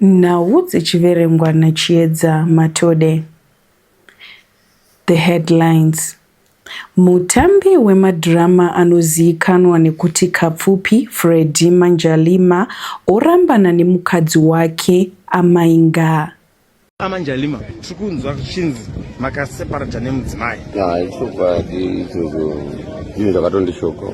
Nhau dzichiverengwa naChiedza Matode. The headlines. Mutambi wemadhirama anozivikanwa nekuti Kapfupi, Freddy Manjalima, orambana nemukadzi wake Amai Ngaa. Amai Njalima, tiri kunzwa zvichinzi makaseparata nemudzimai. Ichokwadi ichocho, zvinhu zvakatondishokawo.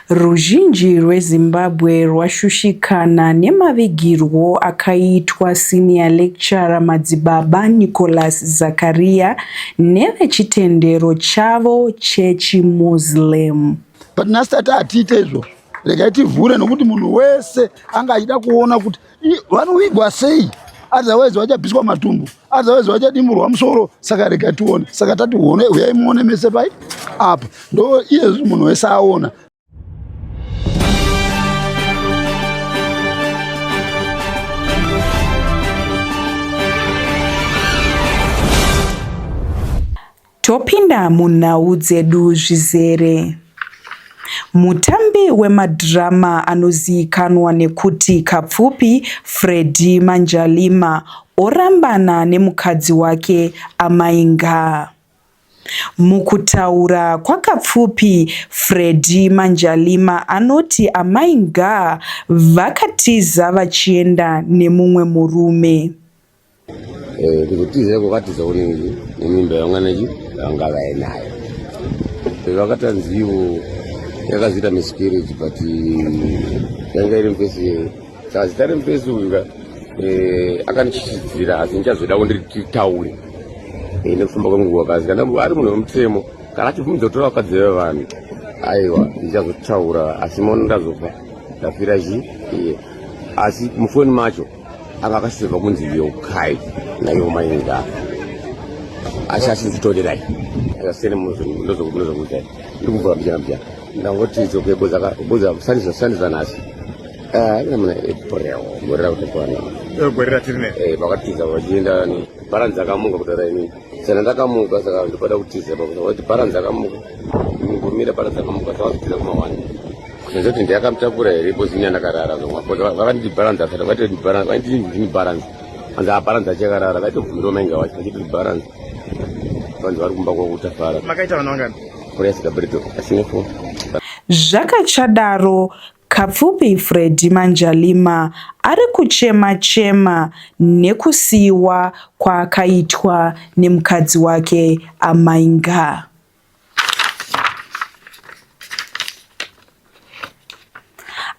Ruzhinji rweZimbabwe rwashushikana nemavigirwo akaitwa senior lecturer Madzibaba Nicholas Zakaria nevechitendero chavo chechi Muslim. But nhasi tati hatiite izvozvo regai tivhure nokuti munhu wese anga achida kuona kuti Vanovigwa sei? Otherwise vachabviswa matumbu, otherwise vachadimburwa musoro. Saka rega tione, saka tati one, uyai muone mese pai apa, ndo iye munhu wese aona. Topinda munhau dzedu zvizere. Mutambi wemadhirama anozivikanwa nekuti Kapfupi, Freddy Manjalima, orambana nemukadzi wake Amai Ngaa. Mukutaura kwaKapfupi, Freddy Manjalima anoti Amai Ngaa vakatiza vachienda nemumwe murume. Eh, kuzotizira kwakatiza kunenge nemimba yavanganachi vanga vainayo vakatanzivo yakazoita miscarriage but yanga iri mupesi saka zita remupesi uka eh, akandichichidzira asi ndichazoda kunditaure eh, nekufamba kwenguva kasi kana ari munhu wemutemo kana achibvumidza kutora vakadzi vevanhu aiwa ndichazotaura asi mono ndazofa ndafira chi asi mufoni macho ava akaseva kunzi yokai naivo mainga asi asiri kutorerai asasere munozokuzai ndiri kuvhura mbichana mbichana ndangoti dzoke bozasandiza nhasi namuna eh, epreo gore rakutokwana eh, gore ratiri ne eh, vakatiza vachienda bharanzi akamuka kutaura inini Sana ndakamuka saka ndopada kutiza pakuti kuti bharanzi dzakamuka ngomira bharanzi dzakamuka saka kutiza kumawani kunyanza kuti ndiyakamutakura here kozi inyana karara vakanditi bharanzi asati vaitoti bharanzi vaititi ndini bharanzi anzi abharanzi achakarara vaitobvumira mainga wacho vachitoti bharanzi vanzi vari kumba kwakutafara makaita vana vangani kuresa kabreto asine fo zvakachadaro Kapfupi Freddy Manjalima ari kuchema chema nekusiiwa kwaakaitwa nemukadzi wake Amai Ngaa.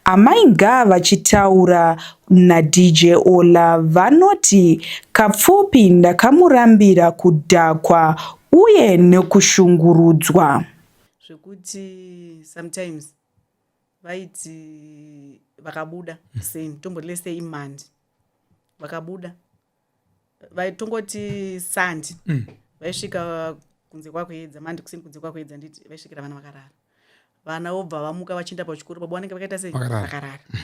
Amai Ngaa vachitaura naDJ Ola vanoti Kapfupi ndakamurambira kudhakwa uye nekushungurudzwa zvekuti sometimes vaiti vakabuda seni tomboti lese imandi vakabuda vaitongoti sandi mm. vaisvika kunze kwakuedza mandi kusini kunze kwakuedza nditi vaisvikira vana vakarara vana vobva vamuka vachienda pachikoro baba vanenge vakaita sei vakarara mm.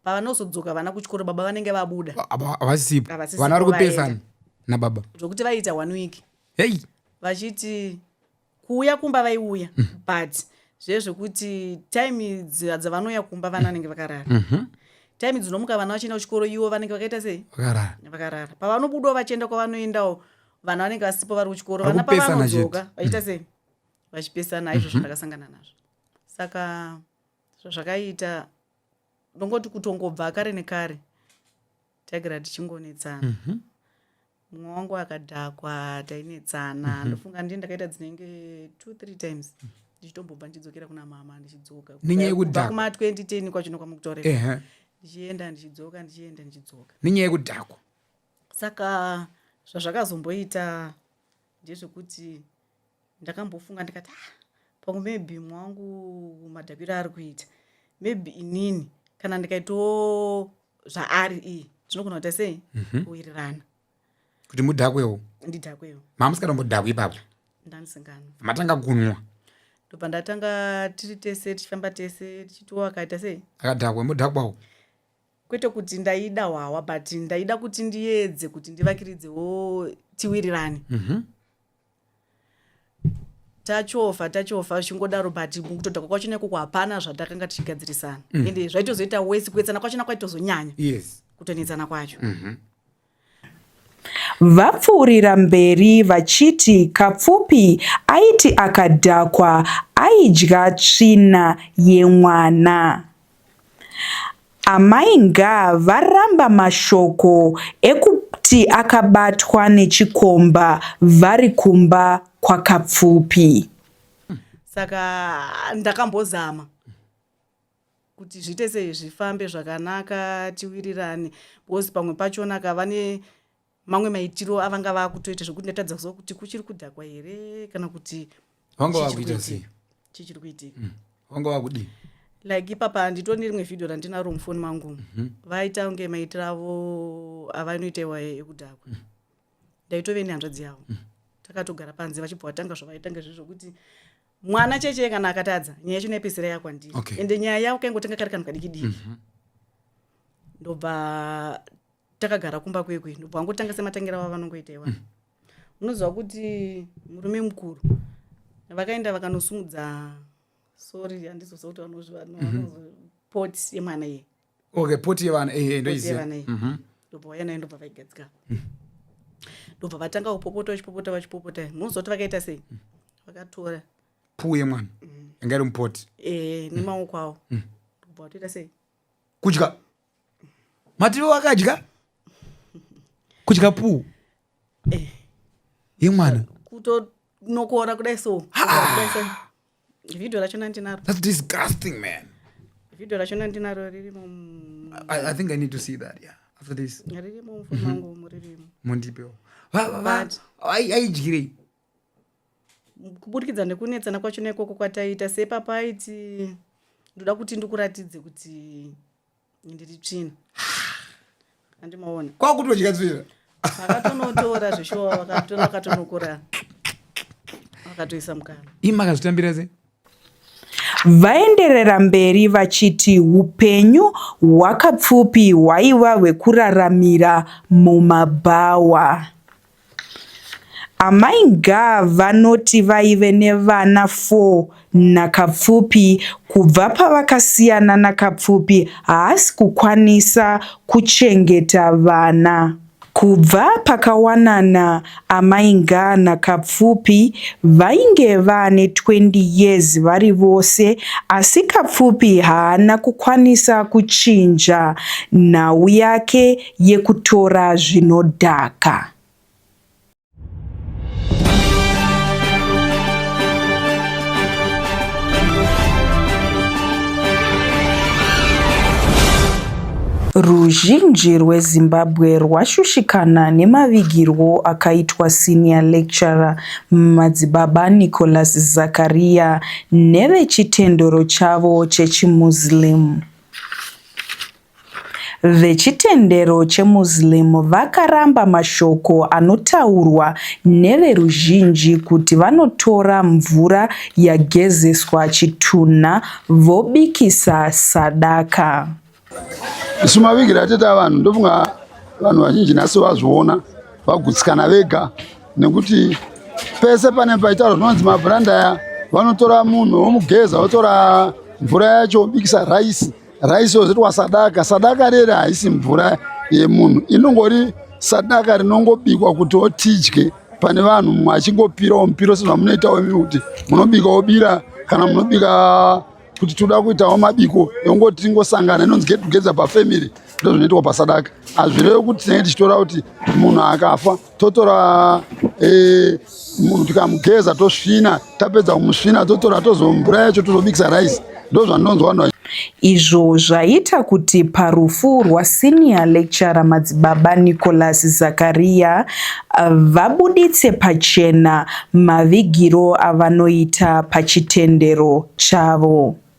pavanozodzoka vana kuchikoro baba vanenge vabuda havasipo vana vari kupesana nababa zvokuti vaiita one week hei vachiti kuuya kumba vaiuya mm. but zviye zvekuti time dzavanouya kumba vana vanenge vakarara mm -hmm. time dzinomuka vana vachienda kuchikoro iwo vanenge vakaita sei vakarara vakarara pavanobudawo vachienda kwavanoendawo vana vanenge vasipo vari kuchikoro vana pavanodzoka vachiita sei vachipesana izvozvo mhm. ndakasangana mm -hmm. nazvo saka zvazvakaita ndongoti kutongobva kare nekare tagara tichingonetsana mm -hmm mumwe wangu akadhakwa tainetsana mhm. ndofunga ndii ndakaita dzinenge two three times mhm. ndichitombobva ndichidzokera kuna mama ndichidzoka nenyaya yekudhakwa kuma 2010 kwacho nokwamukutorera ndichienda ndichidzoka ndichienda ndichidzoka nenyaya yekudhakwa saka zvazvakazomboita ndezvekuti ndakambofunga ndikati ah pamwe maybe mwangu madhakwiro ari kuita maybe inini kana ndikaitawo zvaari iyi tinogona kuita sei mhm. kuwirirana kuti mudhakwewo ndidhakwewo mamusikatombodhakwi ipapo ndandisingano matanga kunwa ndobva ndatanga tiri tese tichifamba tese tichitiwo akaita sei akadhakwa mudhakwawo kwete kuti ndaida hwawa but ndaida kuti ndiedze kuti ndivakiridzewo tiwirirane mm -hmm. tachofa tachofa zvichingodaro but mukutoda kwacho nekuko hapana zvatakanga tichigadzirisana mm. ende zvaitozoita wesi kuedzana kwacho nakwaitozonyanya yes. kutonetsana kwacho mm -hmm. Vapfuurira mberi vachiti Kapfupi aiti akadhakwa aidya tsvina yemwana. Amai Ngaa varamba mashoko ekuti akabatwa nechikomba vari kumba kwaKapfupi. Saka ndakambozama kuti zviite sei zvifambe zvakanaka tiwirirane because pamwe pachona ka vane mamwe maitiro avanga vakutoita zvekuti ndatadza kuziva kuti kuchiri kudhakwa here kana kuti vanga vakuita sei chichiri kuitika mm. vanga vakudii like ipapa handito nerimwe vhideo randinaro mufoni mangu mhm. vaita kunge maitiro avo avanoita iwa ekudhakwa mm. ndaitove nehanzvadzi yavo mm. takatogara panze vachibva vatanga zvavaitanga zvezvokuti mwana cheche kana akatadza nyaya yacho inopedzisira yakwandiri okay. ende nyaya yavo kaingotenga kari kanhu kadiki diki mm -hmm. ndobva takagara kumba kwekwe ndobva vangotanga sematangira vavo vanongoita iwana mm. unoziva mm. kuti murume mukuru vakaenda vakanosumudza sorry handizosa kuti vanozvipoti mhm. yemwana iye okay poti yevana eh, eh, ndoiziva mhm. ndobva vauya nayo ndobva vaigadzika ndobva vatanga kupopota vachipopota vachipopota munozoti vakaita sei mm. vakatora puu yemwana mm. anga iri mupoti ee eh, nemaoko awo mm. ndobva vatoita sei kudya mativi wakadya kudya puu yemwana kutonokora kudai so video racho nandinaro that's disgusting man video racho nandinaro ririmo I, i think i need to see that yeah after this ririmo mufoni mhm. wangu umu ririmo mundipewo aidyirei kuburikidza nekunetsana kwacho neikoko kwataiita sepapaiti ndoda kuti ndikuratidze kuti ndiri tsvina andimaona kwakutodya tsvina akatonotora zveshuwa akatonokora akatoisa mukana ima akazvitambira se Vaenderera mberi vachiti upenyu hwakapfupi hwaiva hwekuraramira mumabhawa. Amai Ngaa vanoti vaive nevana 4 naKapfupi kubva pavakasiyana naKapfupi haasi kukwanisa kuchengeta vana. Kubva pakawanana Amai Ngaa naKapfupi vainge vane 20 years vari vose asi Kapfupi haana kukwanisa kuchinja nhau yake yekutora zvinodhaka. Ruzhinji rweZimbabwe rwashushikana nemavigirwo akaitwa senior lecturer Madzibaba Nicholas Zakaria nevechitendero chavo chechiMuslim. Vechitendero cheMuslim vakaramba mashoko anotaurwa neveruzhinji kuti vanotora mvura yagezeswa chitunha vobikisa sadaka. Isu mavigiro ateta vanhu ndofunga vanhu vazhinji nhasi vazviona vagutsikana vega nekuti pese pane paitaura zvinonzi mabhuranda aya vanotora munhu vomugeza votora mvura yacho vobikisa raisi Rice wozitwa sadaka. Sadaka rere haisi mvura yemunhu. Inongori sadaka rinongobikwa kuti otidye pane vanhu mumwe achingopirawo mupiro sezvamunoitawo imi kuti munobika wobira kana munobika kuti toda kuitawo mabiko yongoti tingosangana inonzi get together pafamily ndozvinoitwa pasadaka hazvirevi kuti tinenge tichitora kuti munhu akafa totora eh, tikamugeza tosvina tapedza kumusvina totora tozomvura yacho tozobikisa rice ndo zvanonzwa vanhu izvo zvaita kuti parufu rwasenior lecturer madzibaba nicholas zakaria vabuditse pachena mavigiro avanoita pachitendero chavo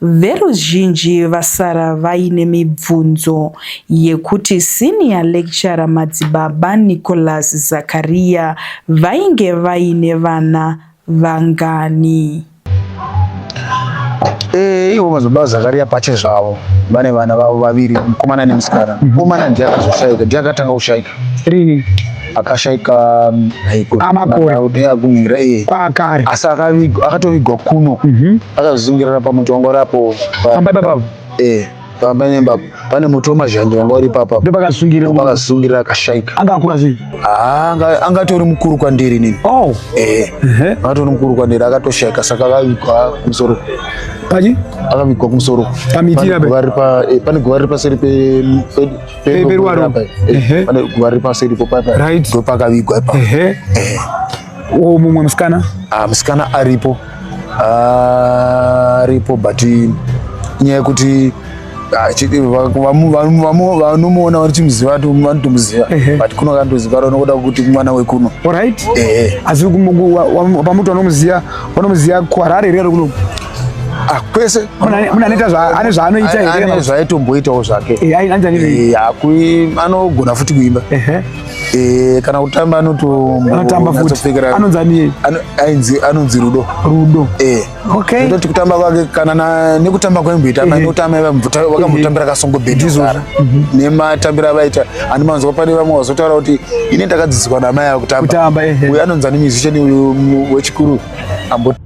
Veruzhinji vasara vaine mibvunzo yekuti senior lecturer Madzibaba Nicholas Zakaria vainge vaine vana vangani. Eh, ivo Madzibaba Zakaria pache zvavo vane vana vavo vaviri mukomana nemusikana. Mukomana ndiye akazoshaika, ndiye akatanga kushaika. Rini? akashaika amakore asi akatovigwa kuno mhm. akazungirana pamuti wangu rapo eh, pamba nemba pane muti wemazhanje wanga uri papa ndopakasungira akashaika angakura sei ah, angatori mukuru kwandiri nini oh. eh, angatori mukuru kwandiri akatoshaika saka akavigwa musoro paji akavigwa kumusoro pamiti eh, pane guva riri paseri Baby Ruwaro. Ehe. Pane guva riri paseri ipo papa. Right. Ndipo pakavigwa ipa. Ehe. Wo mumwe musikana? Ah, musikana aripo. Ah, aripo but nyaya yekuti ah, chi- va- vamu- vamu- vamu- vanomuona vanochimuziva vati vanotomuziva Ehe. but kuno kandoziva ranokuda kuti mwana wekuno Alright. Ehe. Asi pamuti vanomuziva vanomuziva kuHarare here kuno? Ah, kwese muna neta zva ane zva anoita here ane zva aito mboita wo zvake eh ai anza nini eh akui anogona futi kuimba ehe eh kana kutamba anoto anotamba futi anonza ni ainzi anonzi rudo rudo eh okay ndoti kutamba kwake kana na nekutamba kwa imboita mai kutamba iva mvuta wakamutambira kasongo bedi zvara mhm. ne matambira vaita ani manzwa pane vamwe vazotaura kuti ine ndakadzidzwa na mai akutamba kutamba ehe uyu anonza ni musician uyu wechikuru ambo